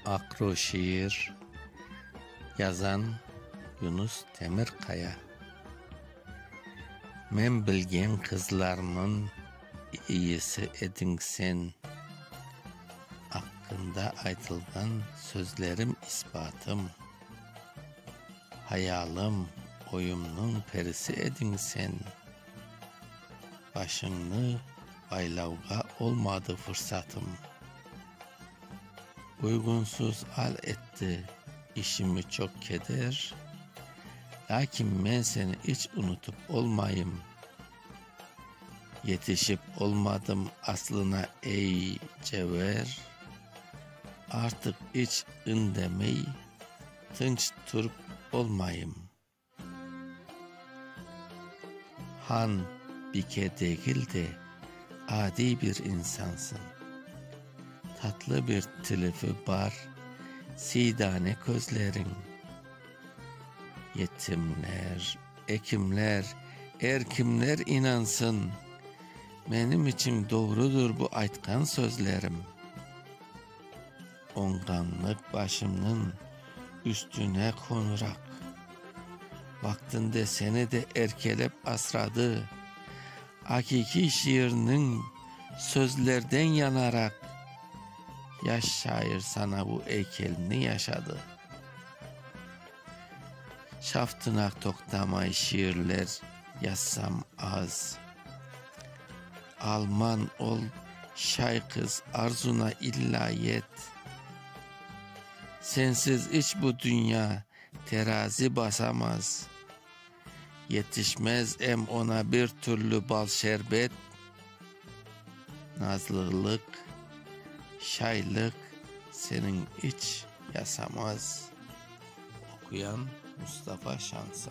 Aqru şiir, yazan, Yunus Temirkaya. Men bilgen qızlarmın iyisi ediñ sen. Aqqında aytılğan sözlerim isbatım. Hayalım, oyumnıñ perisi ediñ sen. Başıñnı baylavğa olmadı fırsatım. Uyğunsız al etti işimi çoq keder, Lâkin men seni iç unutıp olmayım. Yetişip olmadım aslına ey cevher, Artıq iç indemey, tınç turıp olmayım. Han, bike degil de, adiy bir insansıñ. Tatlı bir tilifi bar, siydane közleriñ. Yetimler, ekimler, er kimler inansın, menim içün doğrudır bu aytqan sözlerim. Oñğanlıq başımnıñ üstüne qoñuraq. Vaqtında seni de erkelep asradı. Aqiqiy şiirniñ sözlerden yanaraq, yaş şair sana bu eykelni yaşadı. Şaftınaq toqtamay şiirler yazsam az. Alman ol, şay qız, arzuna illa yet. Sensiz iç bu dünya terazi basamaz. Yetişmez em ona bir türlü bal-şerbet. Nazlılıq, şaylıq seniñ iç yasamaz. Oquyan, Mustafa Şansa.